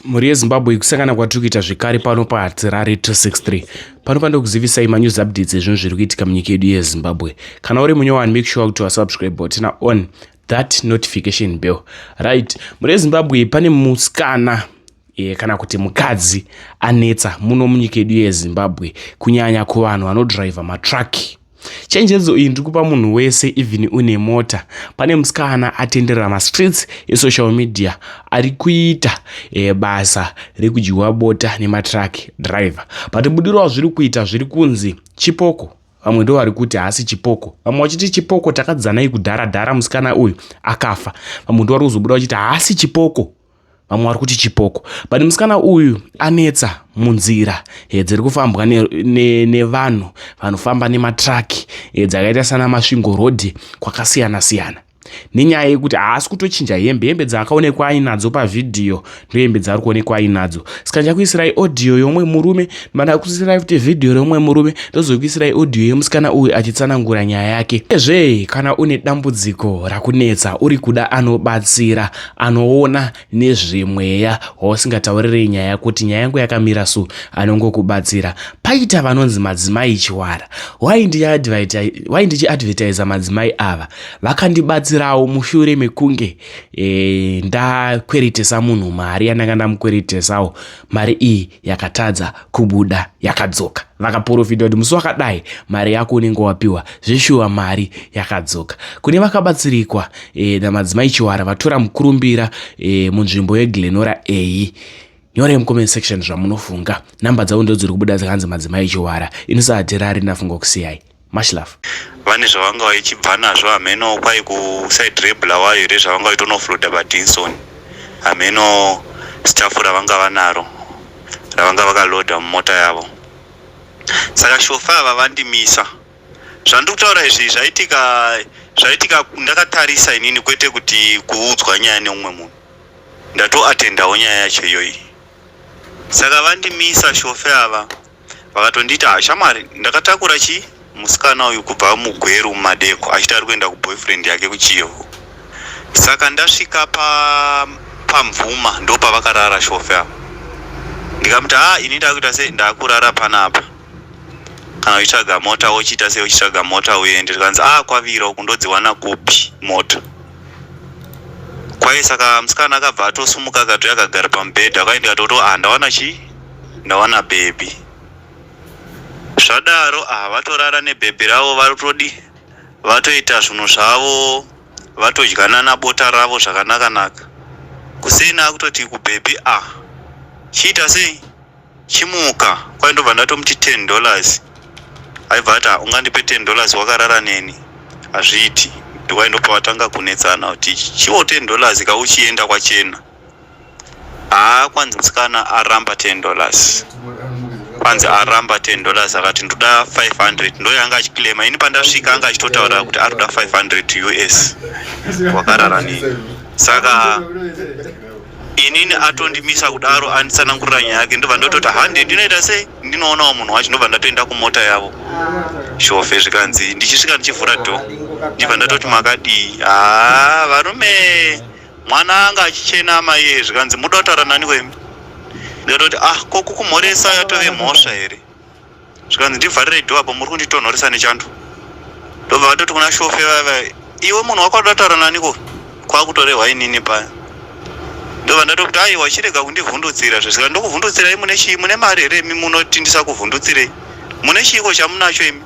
mhuri yezimbabwe kusangana kwatiri kuita zvekare pano pahatirare 263 pano panoda kuzivisai manews updates ezvinhu zviri kuitika munyika yedu yezimbabwe kana uri munyowani make sure kuti wasubscribe botina on that notification bell right mhuri yezimbabwe pane musikana e, kana kuti mukadzi anetsa muno munyika yedu yezimbabwe kunyanya kuvanhu vanodriver matraki Chenjedzo iyi ndiri kupa munhu wese even une mota. Pane musikana atenderera mastreets esocial media ari kuita e, basa rekudyiwa bota nematruck driver but budiro wazviri kuita zviri kunzi chipoko vamwe ndo vari kuti haasi chipoko vamwe vachiti chipoko takadzanai kudhara dhara musikana uyu akafa vamwe ndo vari kuzobuda vachiti haasi chipoko vamwe vari kuti chipoko but musikana uyu anetsa munzira eh, dziri kufambwa nevanhu ne, ne vanofamba nematraki eh, dzakaita sana masvingo road kwakasiyana siyana nenyaya yekuti haasi kutochinja hembe hembe dzaakaonekwa ainadzo pavhidhiyo ndohembe dzaari kuonekwa ainadzo saka ndichakuisirai audio yomwe murume mana kuisirai futi vhidhiyo reumwe murume ndozokuisirai audio yemusikana uyu achitsanangura nyaya yake ezve kana une dambudziko rakunetsa uri kuda anobatsira anoona nezvemweya wausingataurire nyaya kuti nyaya yangu yakamira so anongokubatsira paita vanonzi madzimai chiwara why ndichiadvertisa madzimai ava vakandibatsirawo mushure mekunge e, ndakweretesa munhu mari yandanga ndamukweretesawo mari iyi yakatadza kubuda yakadzoka vakaporofita kuti musi wakadai mari yako unenge wapiwa zveshuwa mari yakadzoka kune vakabatsirikwa e, namadzimai chiwara vatora mukurumbira e, munzvimbo yeglenora eyi nyorai mucomment section zvamunofunga namba dzavo ndodziri kubuda dzakanzi madzimai chiwara inosahatirari ndafunga kusiyai much love vane zvavanga vaichibva nazvo hameno kwai kuside rebulawayo here zvavanga vaitonofloda badinson hameno stafu ravanga vanaro ravanga vakaloda mumota yavo saka shofa ava vandimisa zvandiri kutaura izvi zvaitika zvaitika ndakatarisa inini kwete kuti kuudzwa nyaya neumwe munhu ndatoatendawo nyaya yacho iyoyi saka vandimisa shofe ava Vakatondiita haa shamwari ndakatakura chii musikana uyu kubva mugweru mumadeko achiti ari kuenda kuboyfriend yake kuchivhu saka ndasvika pa pamvuma ndopavakarara shofe ava ndikamuti haa ini ndakuita sei ndakurara panapa kana uchitsvaga mota wochiita sei uchitsvaga mota uende zvikanzi a ah, kwavira uku ndodziwana kupi mota kwaye saka musikana akabva atosumuka akatouya akagara pamubhedha kwaye ndikatoto a ah, ndawana chii ndawana bhebhi zvadaro ah vatorara nebhebhi ravo vatodi vatoita zvinhu zvavo vatodyanana bota ravo zvakanaka naka kuseni akutoti kubhebhi ah chiita sei chimuka kwai ndobva ndatomuti ten dollars aibva ati ah, ungandipe ten dollars wakarara neni hazviiti ndikwai ndopawatanga kunetsana kuti chiwo ten dollars kauchienda kwachena haa kwanzi musikana aramba 10 dollars kwanzi aramba 10 dollars akati ndoda 500 ndoyo anga achiclaima ini pandasvika anga achitotaura kuti ari kuda 500 us wakarara nini saka inini atondimisa kudaro anditsanangurira nyaya yake ndobva ndototi hande ndinoita sei ndinoonawo munhu wacho ndobva ndatoenda kumota yavo shofe zvikanzi ndichisvika ndichivhura dho ndibva ndatoti makadii haa varume mwana anga achichena amai iye zvikanzi muda kutaura nani wemi ndikatoti ah ko kukumhoresa yatove mhosva here zvikanzi ndivharirei dho apo muri kunditonhoresa nechando ndobva vatoti kuna shofe vava iwe munhu wako adataura naniko kwakutorehwa inini paya ndobva ndatokuti aiwa chirega kundivhundutsira zvesika ndokuvhundutsirai mune chii mune mari here imi munoti ndisakuvhundutsirei mune chiiko chamunacho imi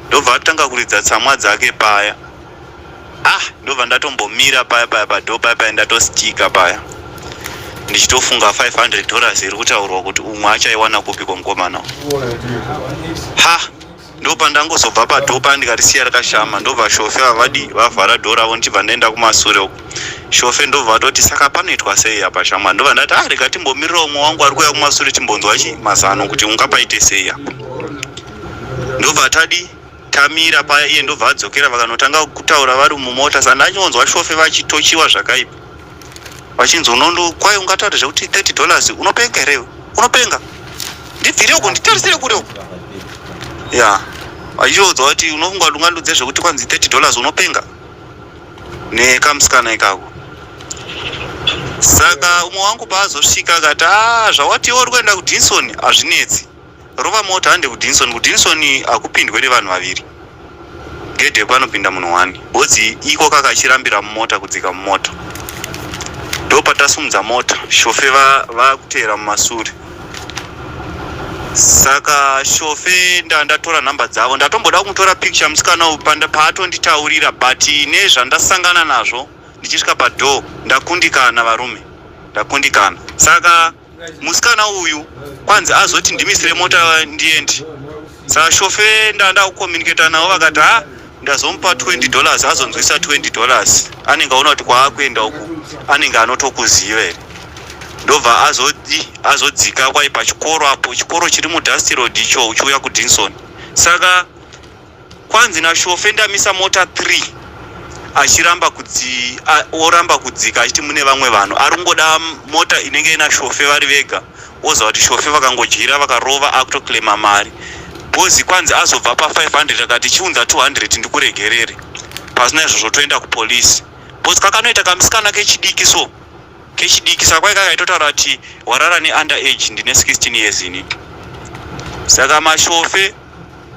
ndobva atanga kuridza tsamwa dzake paya ah ndobva ndatombomira paya paya padho paya paya ndatostika paya ndichitofunga 500 dollars iri kutaurwa kuti umwe achaiwana kupi kwomukomana ha ndopa ndangozobva padho paya ndikarisiya rakashama ndobva shofe vavadi vavhara dho ravo ndichibva ndaenda kumasure uko shofe ndobva atoti saka panoitwa sei apa shamwari ndobva ndati ah rega timbomirira umwe wangu ari kuuya kumasure timbonzwa chi mazano kuti ungapaite sei apa ndobva tadi tamira paya iye ndobva adzokera vakanotanga kutaura vari mumota sandi anyonzwa shofe vachitochiwa zvakaipa vachinzi unondo kwaye ungataura zvekuti 30 dollars unopenga here unopenga ndibvire uko nditarisire kure uko ya yeah. vachiodzwa kuti unofunga kuti ungandudze zvekuti kwanzi 30 dollars unopenga nekamusikana ikako saka umwe wangu paazosvika akati a zvawatiwo uri kuenda kudinson hazvinetsi rova mota hande kudinson kudinson hakupindwe nevanhu vaviri gedhe panopinda munhu wani bodzi iko kakachirambira mumota kudzika mumota ndopatasumudza mota shofe vakuteera mumasure saka shofe ndandatora nhamba dzavo ndatomboda kumutora picture musikana uyu paatonditaurira but nezvandasangana nazvo ndichisvika padoor ndakundikana varume ndakundikana saka musikana uyu kwanzi azoti ndimisire mota ndiendi saka shofe ndanda kucommunicata navo vakati ha ah, ndazomupa 20 dollars azonzwisa 20 dollars anenge aona kuti kwaakuenda uku anenge anotokuziva here ndobva azodi azodzika kwai pachikoro apo chikoro chiri mudusty road icho uchiuya kudinson saka kwanzi nashofe ndamisa mota 3 achiramba kudzi oramba kudzika achiti mune vamwe vanhu ari kungoda mota inenge inashofe vari vega woziva kuti shofe vakangodyira vakarova akutoclaima mari bozi kwanzi azobva pa 500 akati chiunza 200 ndikuregerere pasina izvozvo toenda kupolisi bozi kakanoita kamusikana kechidiki so kechidiki saka kwai kakaitotaura kuti warara neunderage ndine 16 years ini saka mashofe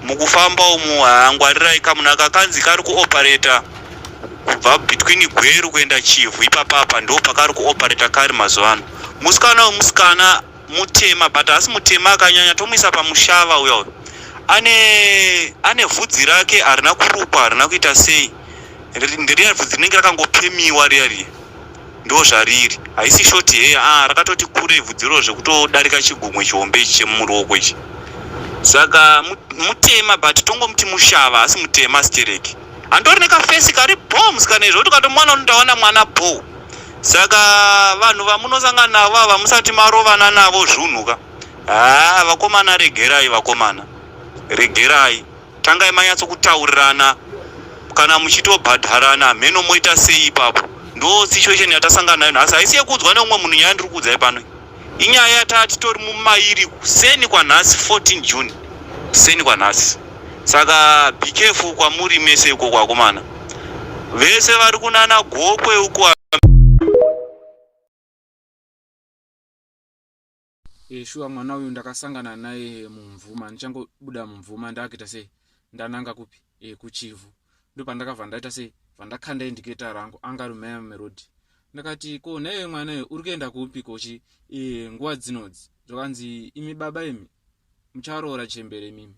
mukufamba umu haa ngwarirai kamuna kakanzi kari kuopareta kubva between gweru kuenda chivhu ipapapa ndo pakari kuopareta kari mazuva ano musikana wemusikana mutema but asi mutema akanyanya tomuisa pamushava uya uyo ane ane vhudzi rake harina kurukwa harina kuita sei ndiriya vhudzi rinenge rakangopemiwa riya riya Ndozvariri haisi short hair ah rakatoti kurei vhudzi iroro zvekutodarika chigumwe chihombe ichi chemuruoko ichi saka mutema but tongomuti mushava asi mutema stereki andori nekafesi kari bombs kana izvo kuti ukatomwana unondaona mwana bho saka vanhu vamunosangana navo ava musati marovana navo zvunhuka haa vakomana regerai vakomana regerai tangai manyatso kutaurirana kana muchitobhadharana hameno moita sei ipapo ndo situation yatasangana nayo nhasi haisi yekuudzwa neumwe munhu nyaya ndiri kuudzai pano inyaya yataa titori mumairi kuseni kwanhasi 14 june kuseni kwanhasi saka be careful kwamuri mese uko kwakomana vese vari kunana gokwe uko e, shuwa mwana uyu ndakasangana naye mumvuma ndichangobuda mumvuma ndakuita sei ndananga kupi e, kuchivhu ndopandakabva ndaita sei vandakanda indiketa rangu anga rumeya mumerodi ndakati ko naiwe mwana uyu uri kuenda kupi kochi e, nguva dzinodzi zvakanzi imi baba imi mucharoora chembere mimi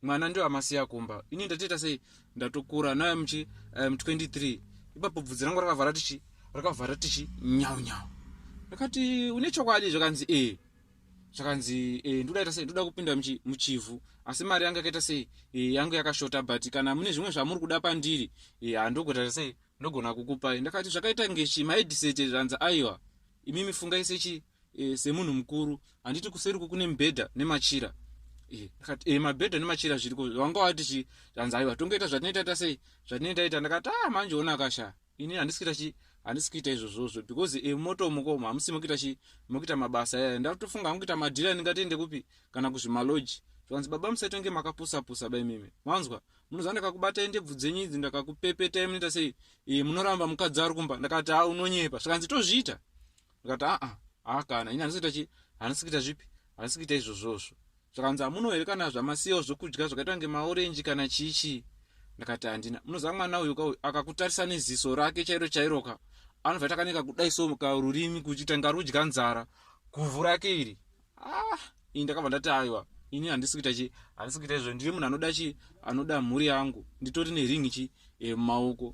mwana ndiwo amasiya kumba ini ndatiita sei ndatokura naye muchi eh, mu um, 23 ipapo bvudzi rangu rakavhara tichi rakavhara tichi nyau nyau ndakati une chokwadi zvakanzi e zvakanzi e eh, ndodaita sei ndoda kupinda muchi, muchivhu asi mari yangu yakaita sei e, yangu yakashota but kana mune zvimwe zvamuri kuda pandiri e, handogota sei ndogona kukupai ndakati zvakaita ngechi maidisete zvanzi aiwa imi mifungaise chii e, semunhu mukuru handiti kuseri uko kune mibhedha nemachira e, akati e, mabhedha nemachira zviriko vanga wati chi hanzi aiwa tongoita zvatinoita ta sei zvatinoita ita ndakati a ah, manje ona akasha ini handisi kuita chi handisi kuita izvozvozvo because e, moto muko hamusi mokuita chi mokuita mabasa yaya ndatofunga hangu kuita madhira endingatiende kupi kana kuzvimaloji zvanzi baba musaitonge makapusapusa ba imimi manzwa munoziva ndakakubatai ndebvu dzenyu idzi ndakakupepetai munoita sei e, munoramba mukadzi ari kumba ndakati a ah, unonyepa zvikanzi tozviita ndikati aa haa kana ini handisi kuita chii handisi kuita zvipi handisi kuita izvozvozvo zvakanzi hamuno here kana zvamasiyawo zvokudya zvakaita kunge maorenji kana chii chii ndakati handina munoziva mwana uyu kauyu akakutarisa neziso rake chairo chairoka anobva takaneka kudai so ka rurimi kuchiita ngarudya nzara guvhu rake iri ah ini ndakabva ndati aiwa ini handisi kuita chii handisi kuita izvo ndiri munhu anoda chii anoda mhuri yangu nditori neringi chii yemumaoko eh,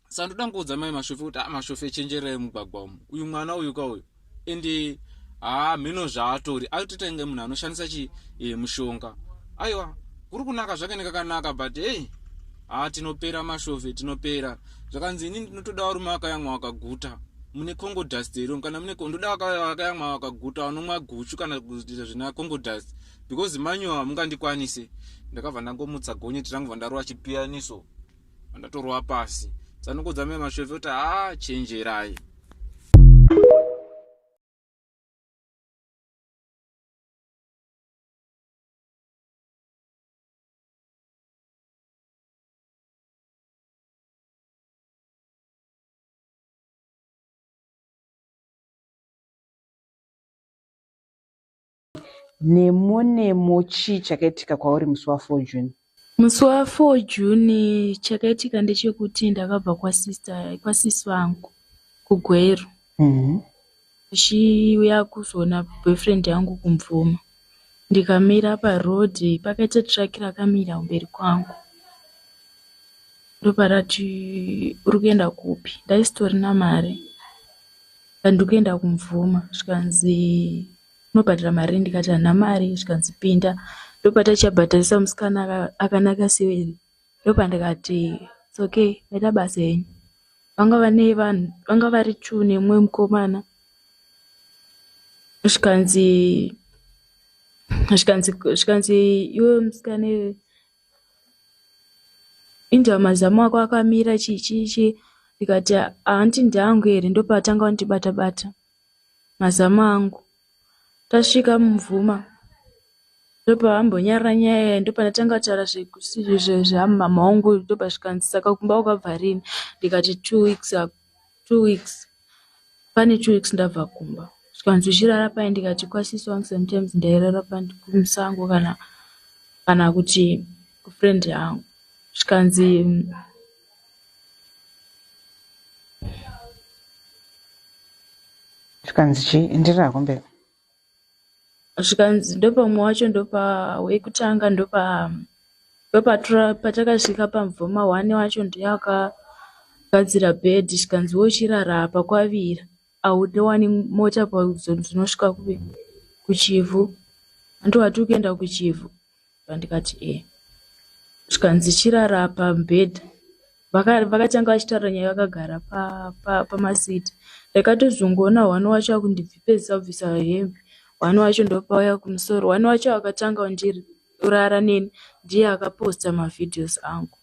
sa ndoda ngoudza mai mashofe kuti ah, mashofe chenjerai mugwagwa umu uyu mwana uyu ka uyu ende haa ah, mheno zvaatori akutoita inge munhu anoshandisa chi e, mushonga aiwa kuri kunaka zvake nekakanaka but hey haa ah, tinopera mashofe tinopera zvakanzi ini ndinotoda varume vakayamwa vakaguta mune congo dust here kana mune ndoda vakayamwa vakaguta vanomwa guchu kana kuita zvina congo dust because manyowa hamungandikwanise ndakabva ndangomutsa gonyeti rangu bva ndarova chipiyaniso ndatorova pasi tsanungo dzamai mashove kuti haa chenjerai Nemo nemo chii chakaitika kwauri musi wa 4 June? Musi wa 4 June chakaitika ndechekuti ndakabva kwa sister kwa sis vangu kuGweru. Mhm. Ndichiuya kuzoona boyfriend yangu kumvuma. Ndikamira pa road pakaita truck rakamira kumberi kwangu. Ndoparati uri kuenda kupi? Ndaisitorina mari. Ndandikuenda kumvuma zvikanzi Unobhadhara mari ndikati handina mari zvikanzi pinda ndopatichabhadharisa musikana akanaka sewere ndopandikati it's okay maita basa henyu. Vanga vane vanhu vanga vari two nemumwe mukomana zvikanzi zvikanzi zvikanzi iwe musikana iwe inzwa mazamu ako akamira chii chii chii ndikati hanti ndeangu here ndopatanga kundibata bata, bata. mazamu angu tasvika mumvuma ndopavambonyarara nyaya iyi ndopandatanga kutaura zveamama wangu ndobva zvikanzi saka kumba wakabva rini ndikati two weeks ago two weeks pane two weeks ndabva kumba zvikanzi uchirara pai ndikati kwasisi wangu sometimes ndairara kumusango kana kana kuti kufriend yangu zvikanzi zvikanzi chii enderera hako mberi zvikanzi ndopamwe wacho ndopa wekutanga ndopa ndopatura patakasvika pamvoma one wacho ndiye akagadzira bed zvikanzi wochirara apa kwavira Hautowani mota pazone dzinosvika kupi kuchivhu hanti wati ukuenda kuchivhu ndikati ee zvikanzi chirara pamubhedha vakatanga vachitaura nyaya vakagara pamasiti ndakatozongoona hwani wacho akundibvipezisa kubvisa hembe hwani wacho ndopauya kumusoro hwani wacho akatanga ndiri Kurara neni ndiye akaposta mavideos angu.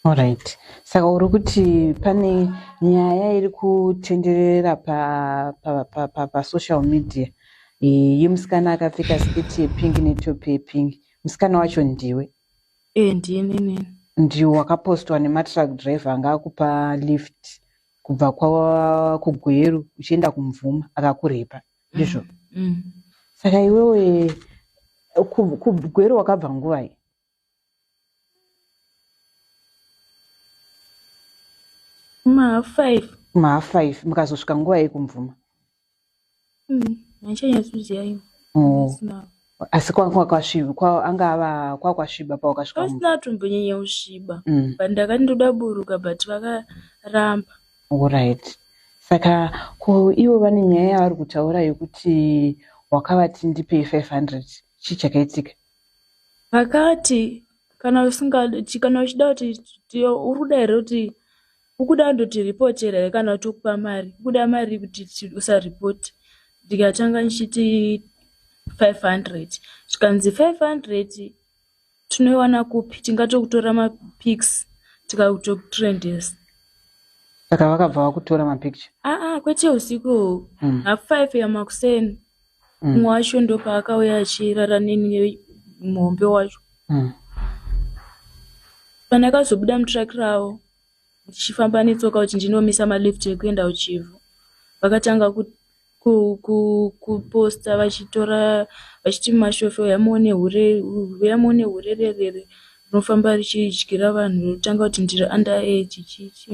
Alright. Saka uri kuti pane nyaya iri kutenderera pa pa pa pa, pa social media Eh, yemusikana akapfeka sketi yepingi netopi yepingi. Musikana wacho ndiwe. Eh ndini nini. Ndiwe wakapostwa nematruck driver anga akupa lift kubva kwa kuGweru uchienda kuMvuma akakurepa. ndizvo mm. mm. saka iwewe kugwero wakabva nguvai maha five maha five mukazosvika nguva yekumvuma mm, handichanyatsoziva ivo oh. asi kwanga kwasviba kwa- anga ava kwakwasviba pawakasvika pasina mumba atombonyanya kusviba mm. but ndakati ndoda buruka but vakaramba Alright. Saka ko ivo vane nyaya yavari kutaura yekuti wakavati ndipei 500 chii chakaitika? vakati kana usingadi kana uchida kuti ti- uri kuda here kuti Ukuda kundoti report here kana kuti ukupa mari ukuda mari kuti usa report ndikatanga ndichiti 500 zvikanzi 500 tinoiwana kupi tingatokutora mapics tikakutokutrendesa saka vakabva vakutora mapicture aa ah, ah, kwete usiku mm. half five yamakuseni mm. umwe mm. wacho ndopaakauya achirara neni muhombe wacho mm. pandakazobuda mutraki ravo ndichifamba netsoka kuti ndinomisa malift ekuenda kuchivhu vakatanga kuposta vachitora vachiti mashofo yamuone hure yamuone hure rerere rinofamba richidyira vanhu rotanga kuti ndiri under age chichi